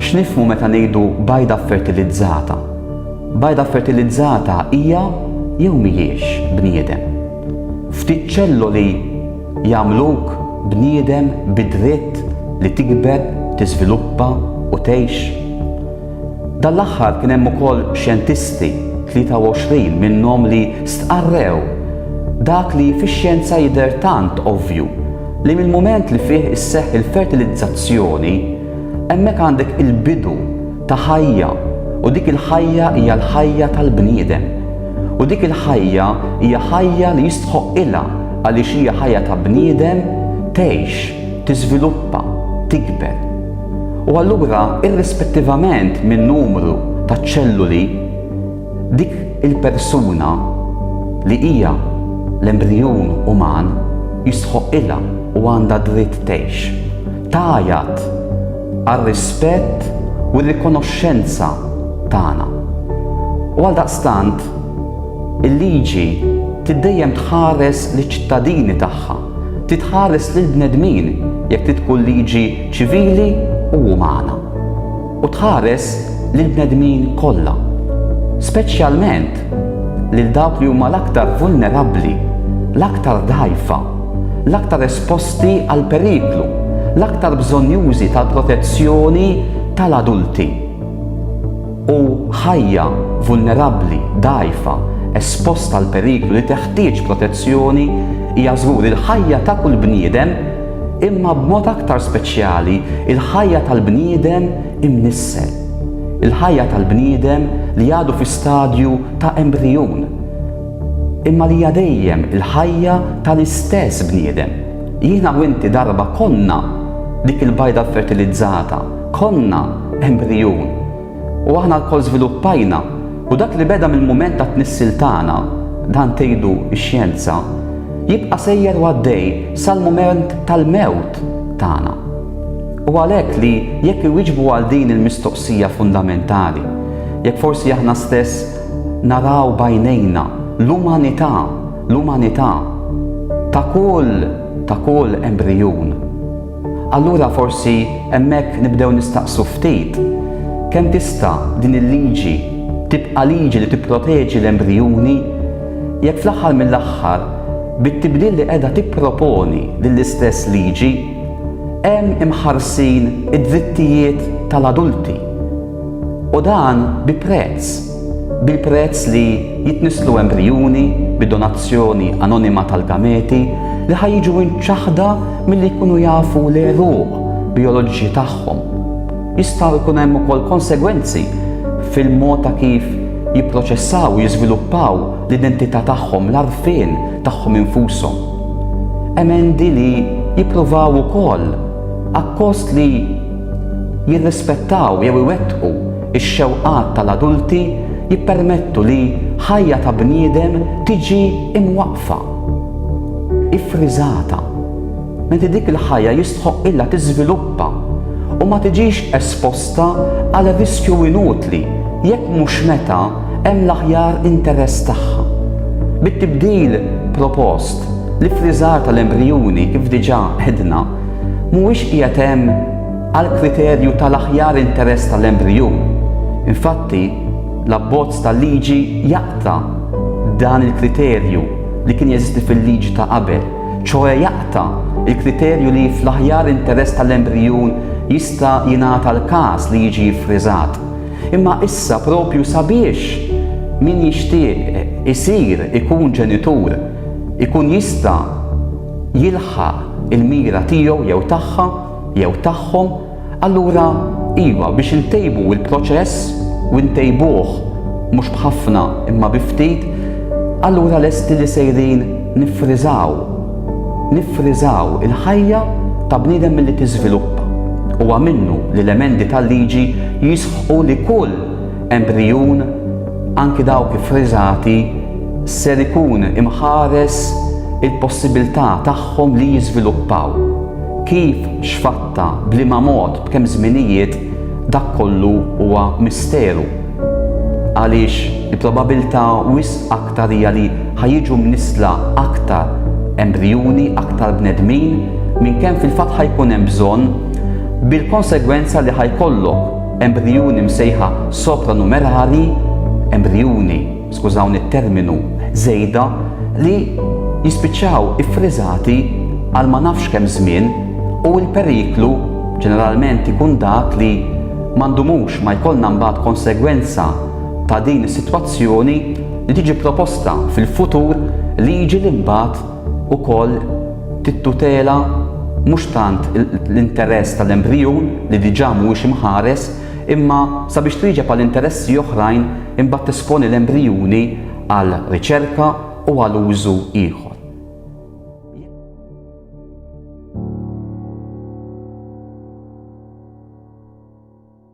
X'nifhmu meta ngħidu bajda ffertilizzata? Bajda ffertilizzata hija jew mhijiex bniedem? Ftit ċelloli jagħmluk bniedem bid-dritt li tikber, tiżviluppa u tgħix? Dan l-aħħar kien hemm ukoll xjentisti, 23 minnhom li stqarrew dak li fix-xjenza jidher tant ovvju, Li mill-mument li fih isseħħ il-fertilizzazzjoni, hemmhekk għandek il-bidu ta' ħajja u dik il-ħajja hija l-ħajja tal-bniedem. U dik il-ħajja hija ħajja li jistħoqqilha għaliex hija ħajja ta' bniedem tgħix, tiżviluppa, tikber. U allura irrispettivament min-numru taċ-ċelluli, Dik il-persuna li hija l-embrijun uman jistħoqqilha u għandha dritt tgħix. Tgħajjat għar-rispett u r-rikonoxxenza tagħna. U għaldaqstant, il-liġi trid dejjem tħares liċ-ċittadini tagħha, trid tħares lill-bnedmin, jekk trid tkun liġi ċivili u umana. u tħares lill-bnedmin kollha, speċjalment lil dawk li huma l-aktar vulnerabbli, l-aktar dgħajfa, l-aktar esposti għall-periklu, l-aktar bżonnjużi tal-protezzjoni tal-adulti. U ħajja vulnerabbli, dgħajfa, esposta għall-periklu li teħtieġ protezzjoni hija żgur il-ħajja ta' kull bniedem, imma b'mod aktar speċjali l-ħajja tal-bniedem imnissel, il-ħajja tal-bniedem li għadu fi stadju ta' embrijun, imma li hija dejjem il-ħajja tal-istess bniedem. Jiena u inti darba konna dik il-bajda ffertilizzata, konna embrijun. U aħna lkoll żviluppajna, u dak li beda mill-mument tat-tnissil tagħna, dan tgħidu x-xjenza, jibqa' sejjer u għaddej sal-mument tal-mewt tagħna. U għalhekk li jekk iwieġbu għal din il-mistoqsija fundamentali, jekk forsi aħna stess naraw b'għajnejna l-umanità, l-umanità ta' kull, ta' kull embrijun, Allura forsi hemmhekk nibdew nistaqsu ftit, kemm tista' din il-liġi tibqa' liġi li tipproteġi l-embrijuni, jekk fl-aħħar mill-aħħar, bit-tibdil li qiegħda tipproponi din l-istess liġi, hemm imħarsin id-drittijiet tal-adulti, u dan bi prezz. bil-prezz li jitnisslu embrijuni bi donazzjoni anonima tal-gameti li ħa jiġu imċaħħda milli jkunu jafu l-għeruq bijoloġiċi tagħhom. Jistgħu jkun hemm ukoll konsegwenzi fil-mod ta' kif jipproċessaw u jiżviluppaw l-identità tagħhom, l-għarfien tagħhom infushom. Emendi li jippruvaw ukoll, akkost li jirrispettaw jew iwettqu Ix-xewqat tal-adulti jippermettu li ħajja ta' bniedem tiġi imwaqqfa, iffriżata, menti dik il-ħajja jistħoqqilha tiżviluppa u ma tiġix esposta għal riskju inutli jekk mhux meta hemm l-aħjar interess tagħha. Bit-tibdil propost, l-iffriżar tal-embrijuni, kif diġà għedna, mhuwiex qiegħed hemm, Għall-kriterju tal-aħjar interess tal-embriju, infatti, l-abbozz ta' liġi jaqta' dan il-kriterju li kien jeżisti fil-liġi ta' qabel, ċoe jaqta' l-kriterju li fl-aħjar interess tal-embrijun jista' jingħata l-każ li jiġi ffriżat. Imma issa proprju sabiex min jixtieq isir ikun ġenitur ikun jista' jilħaq il-mira tiegħu jew tagħha, jew tagħhom, allura iva, biex intejbu l-proċess, u ntejbuh mhux b'ħafna imma bi ftit, allura lesti li sejrin niffriżaw, niffriżaw, il-ħajja ta' bniedem milli tiżviluppa. Huwa minnu li l-emendi tal-liġi jisħqu li kull embrijun, anki dawk iffriżati, ser ikun imħares il-possibilità tagħhom li jiżviluppaw. Kif, x'fatta, b'liema mod, b'kemm żminijiet, dak kollu huwa misteru. Għaliex il-probabilità wisq aktar hija li ħa jiġu mnissla aktar embrijuni, aktar bnedmin, minn kemm fil-fatt ħa jkun hemm bżonn, bil-konsegwenza li ħa jkollok embrijuni msejħa sopranumerari, embrijuni, skużawni t-terminu, żejda li jispiċċaw iffriżati għal ma nafx kemm żmien u l-periklu ġeneralment ikun dak li ma ndumux ma jkollna mbagħad konsegwenza ta' din is-sitwazzjoni li tiġi proposta fil-futur liġi li mbagħad ukoll tittutela mhux tant l-interess tal-embrijun li diġà mhuwiex imħares imma sabiex twieġeb għal interessi oħrajn imbagħad tesponi l-embrijuni għal riċerka u għal użu ieħor.